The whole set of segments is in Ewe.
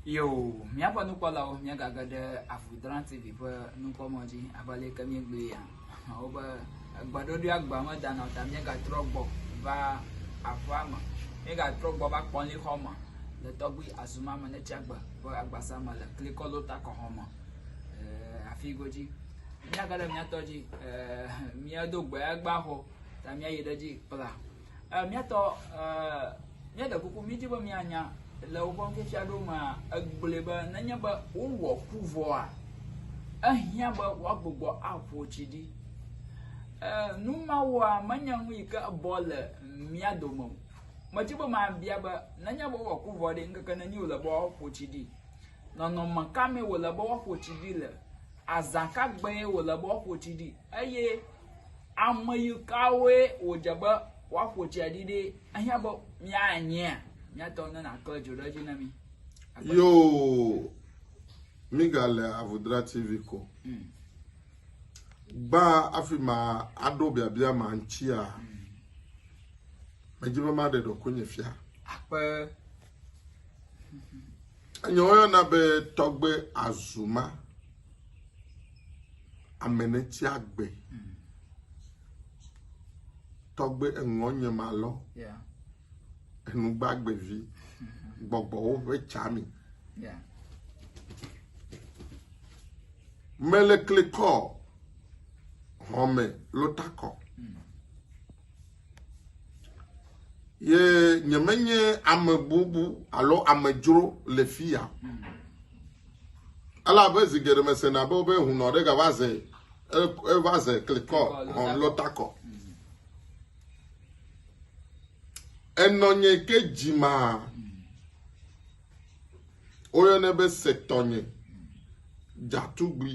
Yo, míaƒe nukpɔlawo míagage ɖe Avuidra TV ƒe nukpɔmɔ dzi abe aleke míegblɔe ya. Wobe egbeɖoɖoe agba medana o ta míegatrɔ gbɔ va aƒea me. Míegatrɔ gbɔ va kpɔlixɔ me le tɔgbui azuma me ne tsiagbe ƒe agbasa me le klikɔlo takɔxɔ me. Eh, afi godzi. Míage ɖe míatɔ dzi eh, míado gbe agba xɔ ta míayi ɖe dzi kpla. Eh, miatɔ eh, míaɖe kuku mídi be míanya le woƒe ŋkefia ɖo mea egblɔe be nenye be wowɔ ku vɔa ehiã be woagbugbɔ aƒo tsi ɖi eh, nu mawoa menye nu yi ke bɔ le mía dome o medi be mabia be nenye be wowɔ ku vɔ ɖi ŋkeke nenyi wòle be woaƒo tsi ɖi nɔnɔme ka mee wòle be woaƒo tsi ɖi le azã ka gbee wòle be woaƒo tsi ɖi eye Ame yi kawoe wòdze be woaƒo tsia ɖi ɖi ehiã be míanyea? Míatɔ ne nàkle dzo ɖe edzi na mí. Yoo, mígale Avodra TV ko. Hmm. Gbã afi ma aɖo biabia ma ŋutia, hmm. medzi be maɖe ɖokuinye fia. Akpe. Enye woyɔna be tɔgbe azuma. ame ne tsi agbe mm. tɔgbe eŋɔ nye ma lɔ enugbagbe vi gbɔgbɔwo ƒe tsa mi mele klikɔ hɔme lotakɔ. Mm. Ye nyemenye ame bubu alo amedzro le fia. Elabe zi geɖe mesena be wobe hunɔ ɖe gava ze eva ze klikɔ hɔn lɔtakɔ. Enɔ nye ke dzima woyɔnɛ be setɔnye dzatugbui.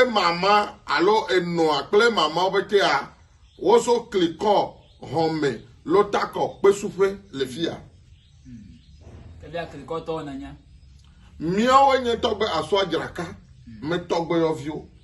emama alo enɔa kple mamawo ƒetea woso klikɔ hɔme lotakɔ kpesuƒe le fia. Ebia klikɔtɔwo nanya. Míawo nye tɔgbe asɔa dzraka me tɔgbe yɔviwo.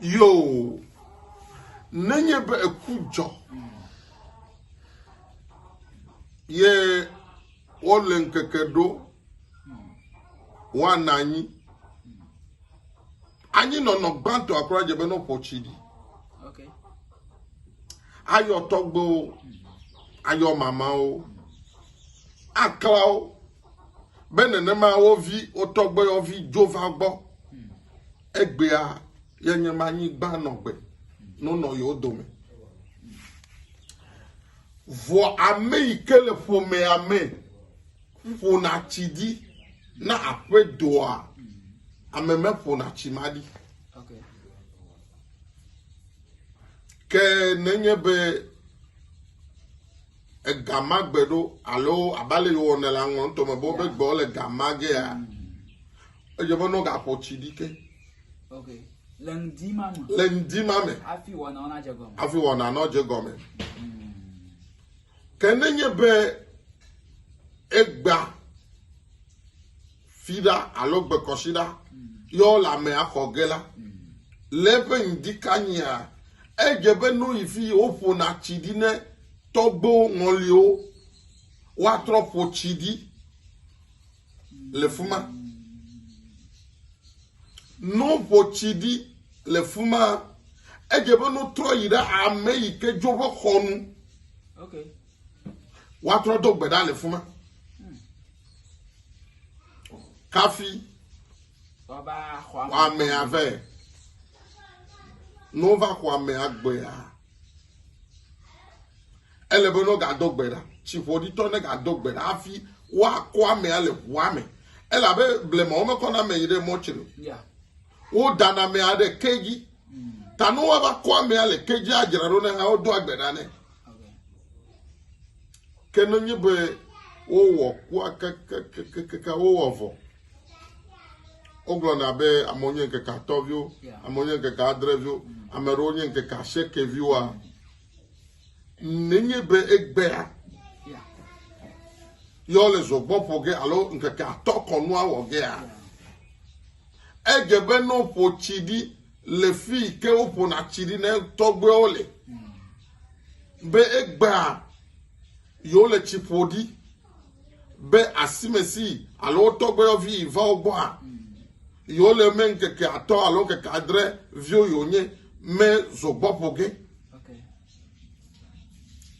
Yoo, nenye be eku dzɔ ye wole ŋkeke ɖo woana anyi. Anyi nɔnɔ gbãtɔ akura dze be nɔƒɔ tsi ɖi. Ayɔ tɔgbewo, ayɔ mamawo, aklawo be nenema wo vi, wo tɔgbe yɔ vi dzo va gbɔ. Egbea ye nye ma nyigba nɔ gbe nonɔ yo dome. Vɔ ame yi ke le ƒomea me ƒona tsi di na aƒe doa ame me ƒona tsi ma di. Ke nenye be ega ma gbe ɖo alo abale yewɔ ne la ŋlɔ ŋutɔ me bo be gbe le ga ma gea. Mm. Edze be nɔ gaxɔ tsi ɖi ke. Ok. Le ŋdi ma me. Le ŋdi ma me. Afi wɔna ɔna dze gɔme. Afi wɔna nɔ dze gɔme. Hmm. Ke ne nye be egba fi ɖa alo gbekɔsi ɖa hmm. yɔ le ame axɔ ge la hmm. le eƒe ŋdi kanyia edze be nɔ yi fi woƒona tsi ɖi ne tɔgbewo ŋɔliwo woatrɔ ƒo tsi ɖi. le fuma. No ƒo tsi ɖi le fuma. Edze be no trɔ yi ɖe ame yi ke dzo ƒe xɔ nu. Okay. Woatrɔ do gbe ɖa le fuma. Hmm. Kafi. Waba xɔ ame. Xɔ ame ave. No va xɔ ame agbea. Ele be ne wogado gbe ɖa, tsiƒoɖitɔ negado gbe ɖa hafi woakɔ amea le ʋua me, elabe blema womekɔna ame yi ɖe mɔtri o. Wodana amea ɖe ke dzi. Ta ne woava kɔ amea le ke dzia dzra ɖo ne hã wodoa gbe ɖa nɛ. Ke ne nye be wowɔ kua kakakakaka wowɔ vɔ. Wogblɔna be amewo nye ŋkeke atɔ̃viwo, amewo nye ŋkeke adreviwo, ame aɖewo nye ŋkeke asieke viwoa. nenye be egbea yɔ le zɔgbɔ ƒo ge alo ŋkeke atɔ kɔnua wɔ gea edze be ne woƒo tsi ɖi le fi ke woƒona tsi ɖi ne tɔgbewo le be egbea yewo le tsi ƒo ɖi be asimesi alo wo tɔgbuiyɔvi yi va wo gbɔa, yewo le me ŋkeke atɔ alo ŋkeke adre viwo yewo nye me zogbɔ ƒo ge.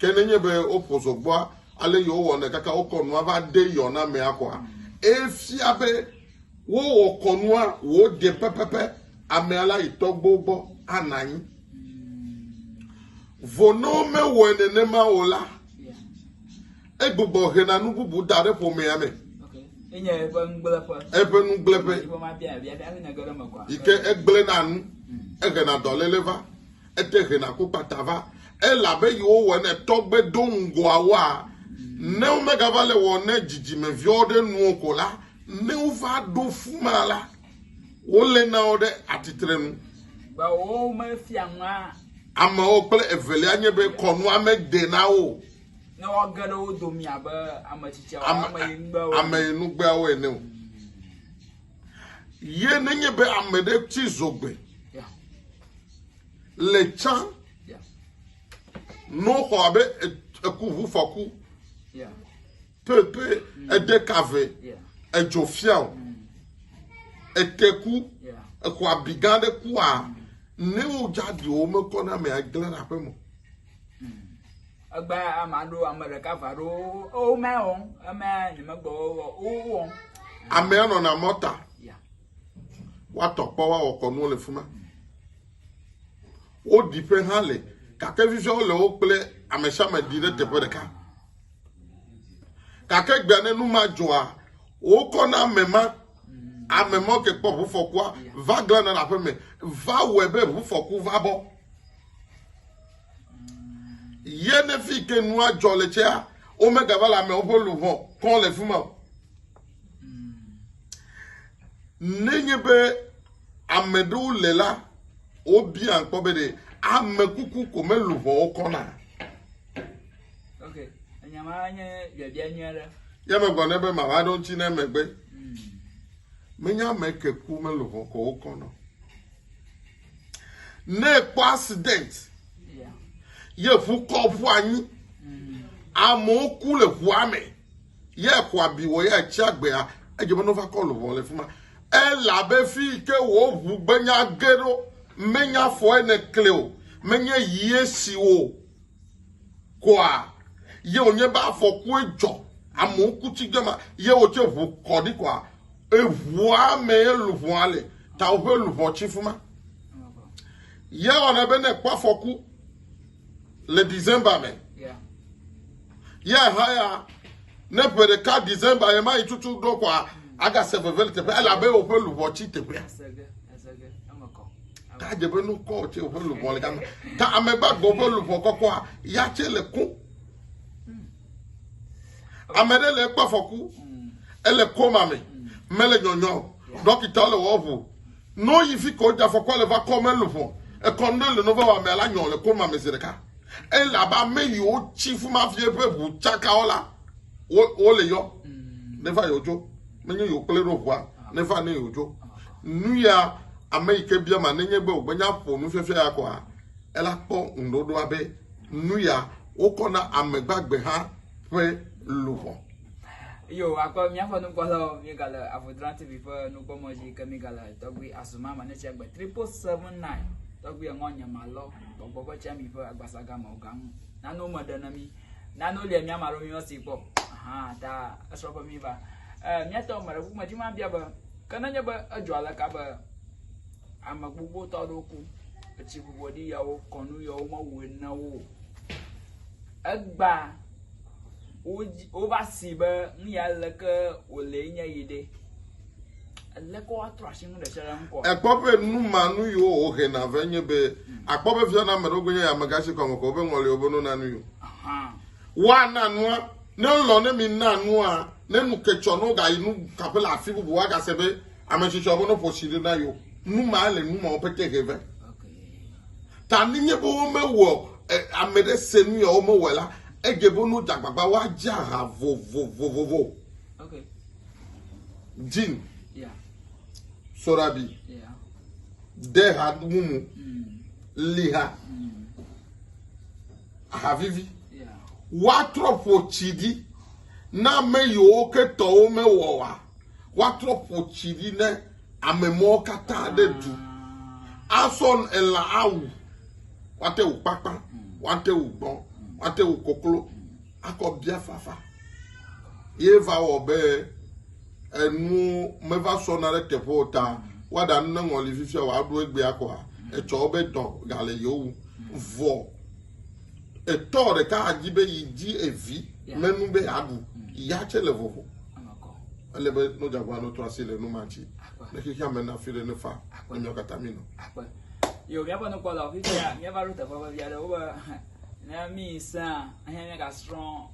Ke nenye be woƒo zogbɔa ale yewo wɔnɛ kaka wokɔ nua va de yɔ na mea kɔa, efia be wowɔ kɔnua wòde pɛpɛpɛ amea la yi tɔgbuiwo gbɔ ana anyi. Vɔ ne womewɔe nenema o la, Egbugbɔ hena nu bubu da ɖe ƒomea me. Enye eƒe nugblẽƒe. Eƒe nugblẽƒe. Yi ke egblẽna nu, hmm. ehena dɔléle va, ete hena ku kpata va. Elabe yiwo wɔ ne tɔgbe do ŋgɔawoa, hmm. ne womegava le wɔ ne dzidzimeviwo ɖe nuwo ko la, ne wova ɖo fu ma la, wole na wo ɖe atitre nu. Ba wo mefia ŋua. Amewo kple evelia nye be kɔnua mede na wo. Ne woage ɖe wo domi abe ame tsitsiawo ame yinugbeawo ame yinugbeawo ene o. Ye nenye be ame ɖe ti zogbe le tsã n'oxɔ abe ekuʋufɔku Pepe ede ka ve edzɔ fia o. Ete ku exɔ abi gã ɖe ku a ne wo jadi wo me kɔ na me agble na pe mo. Egba ama ɖo ame ɖeka va ɖo o me o eme ni me gbɔ o o. Ame anɔ na mɔta. Wa tɔ kpɔ wa wɔkɔ nuwo le fuma. Wo di pe ha le kake vivia wo le wo kple amesha me di ɖe teƒe ɖeka. gake gbea ne nu ma dzɔa wokɔ na ame ma ame ma ke kpɔ ʋufɔkua va glana ɖe aƒe me va wɔe be ʋufɔku va bɔ ye ne fi ke nua dzɔ le tsea womegava le amewo ƒe luʋɔ kɔ le fi ma o nenye be ame ɖewo le la wobia kpɔ be ɖe ame kuku ko meluʋɔwo kɔna Ye megblɔ nɛ be mava ɖo ŋuti ne megbe. Menya ame ke ku mele hɔkɔ wo kɔ nɔ. Ne ekpɔ accident ye ʋu kɔ ʋu anyi. Amewo ku le ʋua me. Ye xɔ abi wɔ ye atsi agbea edze be nova kɔ lɔbɔ le fi ma. Elabe fi ke wo ʋu gbenya ge ɖo menya fɔ ene kle o. Menye yie si o. Kɔa ye wònye be afɔkue dzɔ, amewo ku tsi ge ma, ye wòtse ʋu kɔ ɖi kɔa, eʋua me ye luʋɔa le, ta woƒe luʋɔ tsi fuma. Ye wɔna be ne kpɔ afɔku le December me, ye ha ya, ne ƒe ɖeka December ye ma yi tutu ɖo kɔa, agase veve le teƒe, elabe woƒe luʋɔ tsi teƒea. Ta dze be nu kɔ tse woƒe luʋɔ le gama. Ta ame gbagbe ƒe luʋɔ kɔkɔa ya tse le kó. Ame ɖe le ekpɔ afɔku. Ele koma me. Mele nyɔnyɔ. Ɖɔkita le wɔʋu. No yi fi ko dze afɔkua le va kɔ me luʋɔ. Ekɔ nu ɖe le nova wa me la nyɔ le koma me zi ɖeka. Ele abe ame yiwo tsi fuma vie ƒe ʋu tsaka wo la wo le yɔ. Neva yɔ tso. nenye yewo kple ɖo ʋua neva ne yewo dzo nu ya ame yi ke bia ma nenye be wògbe nya ƒo nufiafia ya kɔa ela kpɔ ŋuɖoɖoa be nu ya wokɔ na ame gbagbe hã ƒe luʋɔ. Yo, akɔ míaƒe nukpɔlawo míegale Avodran TV ƒe nukpɔmɔ dzi ke míegale tɔgbi azuma me ne tsegbe triple seven nine tɔgbi eŋɔ nye malɔ gbɔgbɔ ƒe tsami ƒe agbasaga me ogaŋu nanu me ɖe ne mí. nane wòlia mía ame aɖewo mímesi kpɔ hã ta esrɔ̃ be míva eh, míatɔ ame ɖe ƒume dzi ma bia be ke nenye be edzɔ aleka be ame gbogbo tɔ aɖewo ku etsi bɔbɔ ɖi yawo kɔnu yawo mewɔe na wo o egba wodzi- wova si be nu ya leke wòle nye yi ɖe Ekpɔ be nu ma nu yiwo wohe na ve nye be akpɔ be fia na ame ɖewo nye amegã si kɔme kɔ wobe ŋɔliwo be nona nu yi o. Woana nua ne lɔ ne mi na nua ne nu ketsɔ no gayi nu kaƒe le afi bubu agase be ame tsitsɔ be noƒo si ɖe na yi o. Nu ma le nu ma wo pete he ve. Ta ne nye be womewɔ eh, ame ɖe se nu ya womewɔ la, edze be nu dzagbagba woadze aha vovovovovo. Okay. Jean yeah. Sorabi yeah. Deha Mumu mm. Liha mm. Havivi yeah. woatrɔ ƒo tsi ɖi na ame yiwo ke tɔwo mewɔ wa woatrɔ ƒo tsi ɖi ne ame mɔwo katã ɖe du asɔ elã awu wate wò kpakpa wate wò gbɔn wate wò koklo akɔbiafafa ye va wɔ be enuwo meva sɔna ɖe teƒe o ta woaɖa nu ne ŋɔli fifia wòaɖo egbea kɔa etsɔ wobe dɔ gale yewo ŋu vɔ etɔ ɖeka adzi be yi dzi evi menu be aɖu ya tse le vovo ele be nɔdzagba nɔtɔ asi le nu ma dzi ne xexea me na fi ɖe ne fa ne míawo katã mi nɔ. Yo, míaƒe nukpɔlawo fifia míava ɖo teƒe vevi aɖe wobe Ne míesẽa, ne míegasrɔ̃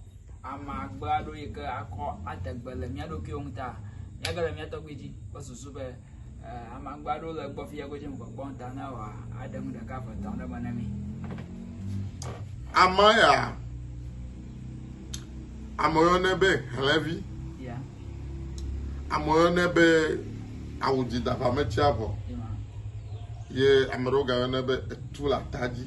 ame agbe aɖewo yi ke akɔ ade gbe le mía ɖokuiwo ŋu ta, míage ɖe mía tɔgbui dzi kple susu be eh, ame agbe aɖewo le egbɔ fia godzi mekpɔkpɔ ta ne wòaɖe nu ɖeka ƒe etɔ̃ ɖe me na mí. Ame ya, ame yɔnɛ be hlɛvi, Ya, ame yɔnɛ be awu dzi daƒametiavɔ, ya, ye ame ɖewo gayɔnɛ be etu le ata dzi.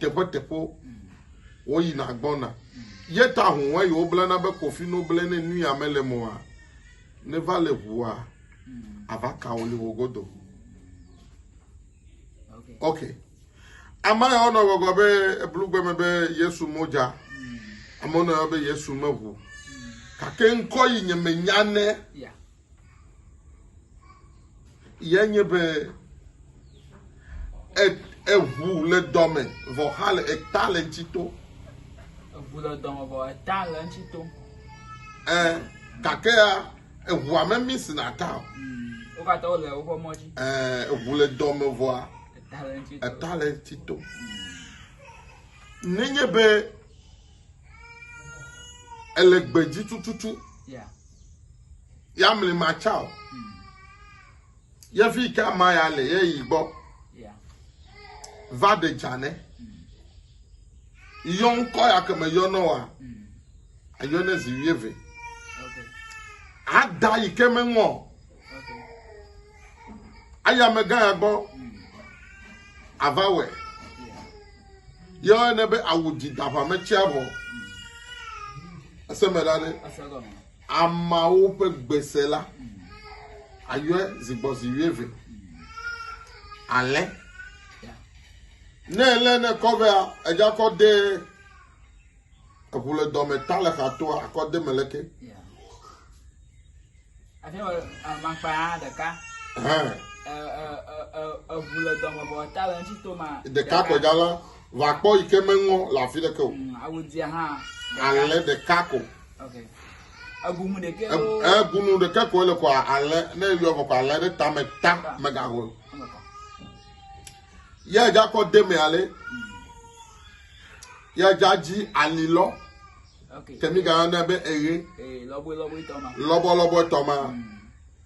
teƒeteƒewo woyina gbɔna ye ta ŋu eye woblana be kofi no ble ne nui ame le mɔa ne va le ʋua ava ka wo le wo godo ok ame yawo nɔ gbɔgbɔ be eblugbe me be yesu modza amewo nɔ yɔ be yesu meʋu gake ŋkɔ yi nye menya ne Ye nye be eʋu le dɔme vɔ xa le eta le ŋuti to. Eʋu le dɔme vɔ eta le ŋuti to. Ɛ gake ya eʋua me mi si na ta o. Wo katã wole woƒe mɔ dzi. Ɛ eʋu le dɔme vɔa eta le ŋuti to. Nenye be ele gbedzi tututu. Ya mli ma tsao. Yevi ka ma ya le ye yi gbɔ. Va de dzane. Yɔ ŋkɔ ya keme yɔ nɔ wa. Ayɔ ne zi wie ve. Ada yi ke me ŋɔ. Aya me gã ya gbɔ. Ava wɛ. Yɔ ne be awu di da va me tsia vɔ. Ese me la ne. Ameawo ƒe gbe se la ayɔe zi gbɔ zi wuieve. Alẽ ne elé ne kɔ vea, edza kɔ de eŋu le dɔme ta le xa toa akɔ de me le ke. Ate ŋu amankpa ɖeka. Eŋu le dɔme bɔ ta le ŋuti to ma. Ɖeka kɔ dza la va kpɔ yi ke meŋɔ le afi ɖeke o. Mm, Awudia hã. Alẽ ɖeka ko. Egunu ɖekɛ Egunu ɖekɛ koe le kɔ alɛ ne yɔ kɔ alɛ ɖe tame ta megahol. Yɛ dza kɔ deme ale. Yɛ dza dzi ali lɔ. Kemi ga ne be eye. Lɔbɔ lɔbɔ tɔma. Lɔbɔ lɔbɔ tɔma.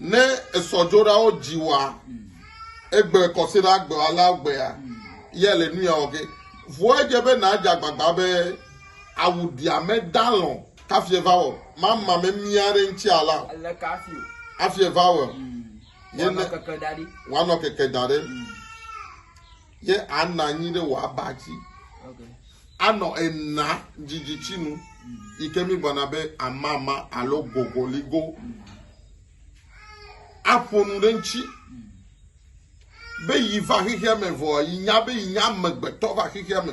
Ne esɔdzoɖawo dzi wa egbe kɔsiɖa gbewalawo gbea, ya le nu ya wɔ ke. Vɔ edze be nàdze agbagba be awu ɖiame dalɔ̃ kafi eva wɔ mama memia aɖe ŋuti ala o. Ele ka afi o. Afi eva wɔ. Ye Wanɔ ne- keke da ɖi. wanɔ keke da ɖe. Ye ana anyi ɖe wò aba dzi. Anɔ ena dzidzitsinu yi ke mígblɔna be amama alo gogoligo. Aƒo nu ɖe eŋuti be yi va xexea me vɔ yi nya be yi nye amegbetɔ va xexea me.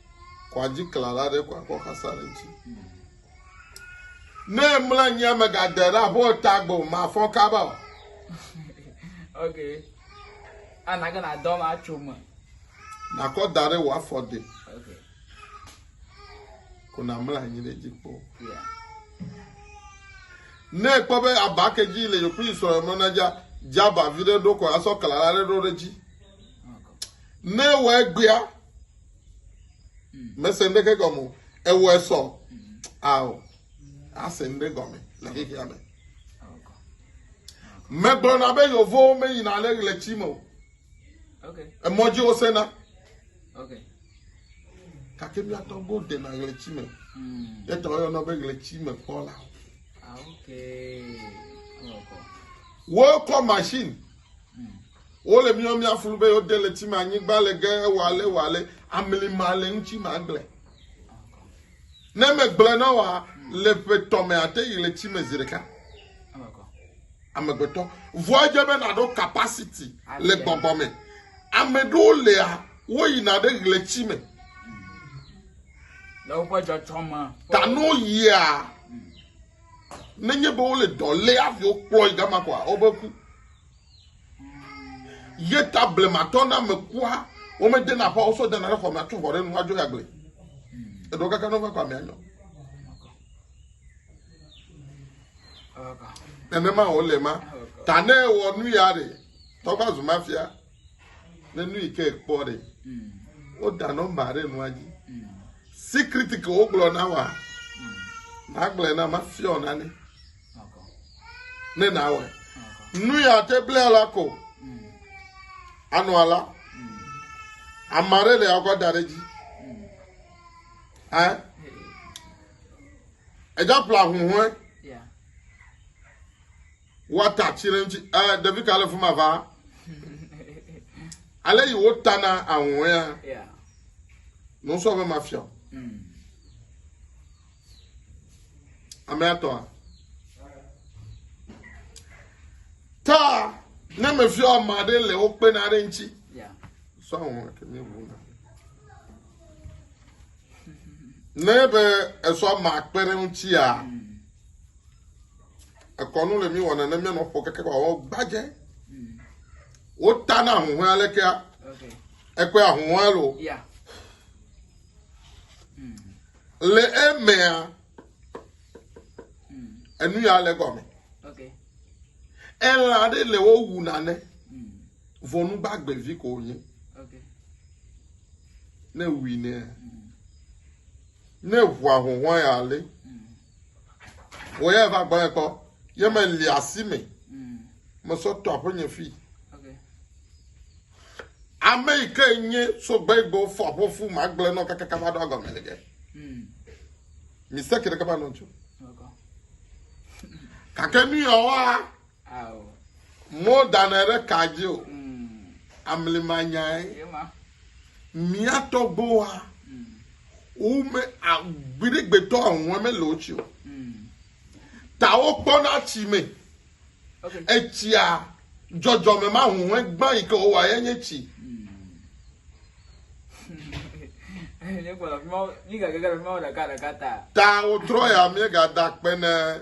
Kɔadzikplɔla aɖe kɔ akɔ xasa ɖe ŋuti. Ne mlɔ anyi megade ɖe abe ta gbe o, mafɔ kaba o. ok. Ana ke nadɔ ma tso me. Nakɔ da ɖe wò afɔ de. Ok. Ko namlɔ anyi ɖe dzi kpɔ. Yeah. Ne ekpɔ be aba ke dzi le yokpli srɔ̃ mɔ na dza dza ba vi ɖe ɖo ko asɔ kla la ɖe ɖo ɖe dzi. Ne wɔ egbea mm. mese ŋɖeke gɔme o ewɔe sɔ mm. ao ase ŋɖe gɔme le xexea me megblɔna be yevowo meyina le ɣleti me o emɔ dzi wosena gake míatɔ go dena ɣleti me mm. yetɔ woyɔna be ɣleti me kpɔla ah, wokɔ machine Wole mía mía flu be yo de le ti ma nyigba le ge wale wale amli ma le ŋuti ma gble. Ne me gble na wa le ƒe tɔ me ate yi le ti me zi ɖeka. Amegbetɔ vua dze be na ɖo capacity le gbɔgbɔ me. Ame ɖewo lea wo yi na ɖe le ti me. Le woƒe dzɔdzɔ me. Ta no yia. nenye be wole dɔ lé aviwo kplɔe gama kɔa, wobe ku. Ye ta blematɔ na me kua, wome dena ƒa wosɔ dana ɖe xɔ me atsɔ xɔ ɖe nu adzo ya gble. Eɖewo kaka ne wova kɔ amea nyɔ. Nenema wòle ma. Ta ne wɔ nu ya ɖe, tɔgba zu mafia. ne nu yi ke kpɔ ɖe woda nɔmba ɖe nua dzi sikriti ke wogblɔ na wa nagblɔe na mafiɔ na ne ne nawɔe nu ya te ble la ko anɔ ala ame aɖe le akɔ da ɖe dzi ɛ ɛdza ƒla huhɔe. woata atsi ɖe ŋuti eh, ɖevi ka le fi ma va ale yi wotana ahuhɔ̃e ya nusɔ be mafia o mm. ame atɔa ta ne mefia ame aɖe le wo kpena ɖe ŋuti sɔ ahuhɔ̃e kemi ʋu na ne be esɔ ma kpe ɖe ŋutia. Mm. Ekɔ nu le mí wɔna ne mía nɔƒo keke ba wɔ gbadze. Wo ta na ahuhɔe alekea. Ekɔe ahuhɔe lo. Le emea, enu ya le gɔme. Elã aɖe le wo wu nane. Vɔnu gbagbe vi ko wonye. Ne wui ne. Ne ʋua huhɔe ale. Mm. Wò ya va gbɔe kpɔ. Ye me li asi me. Mm. Me sɔ to aƒe nye fi. Okay. Ame yi ke nye so gbe gbe fɔ aƒe fu ma gble nɔ kaka kava ɖo agɔme le ge. Mm. Mi se kire kava nɔ tso. Kake nu ya wa Ao. Mo danɛ ɖe ka dzi o. Amli ma nyae. Mia tɔgbo wa. Wo me agbiɖe gbetɔ ahun me le otsi o. Ta wo kpɔ na tsi me. Etsia jɔjɔ me ma hun he gba yi ke wo wa ye nye tsi. Ta wo trɔ ya mie ga da kpe ne.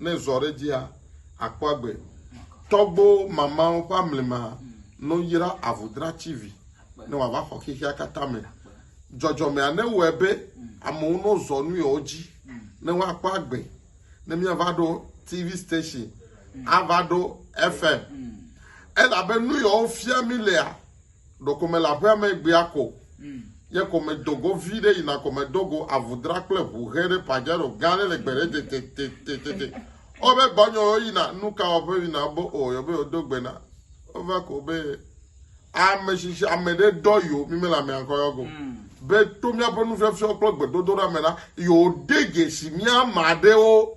ne zɔ ɖe dzia, àkpɔ agbe. Tɔgbo mamãwo ƒe amlima no yra avudratsivi ne wòava xɔ xexea katã me. Dzɔdzɔmea newɔe be amewo no zɔ nuyɔwo dzi ne woakpɔ agbe, ne míava ɖo TV station, ava ɖo FM. Elabe nuyɔwo fia mí lea Ɖeko mele aƒea me egbea ko. Ye ko medo go viɖe yina ko medo go avu dra kple ʋu ʋe ɖe Pajero gã aɖe le gbe ɖe tetetetete. Ewɔ be gbɔnyɔ wo yina nuka wɔƒe yina be o yɔ be wodo gbe na. Wova ko be ame shishi ame ɖe dɔ yo mi mele amea ŋkɔ yɔ go. Be to miaƒe nufiafia kple gbedodoɖa me la yo de dze si mia ma ɖewo.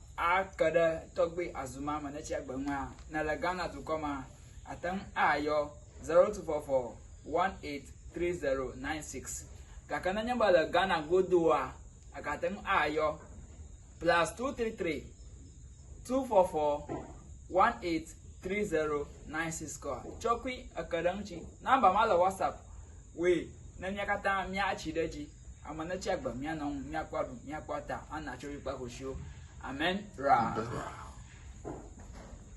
ake ɖe tɔgbe azuma me ne tsia gbe ŋua ne le Ghana dukɔ ma ate ŋu ayɔ 0244183096 gake nenye be le Ghana godoa egate ŋu ayɔ plus 233 244183096 kɔ tsɔkui eke ɖe eŋuti nɔmba ma le whatsapp woe ne mia katã miatsi ɖe edzi Ame ne tsi agbe mía nɔŋ mía kpɔ aɖu mía kpɔ ata ana tso yi kpa koshiwo. Amen. Ra.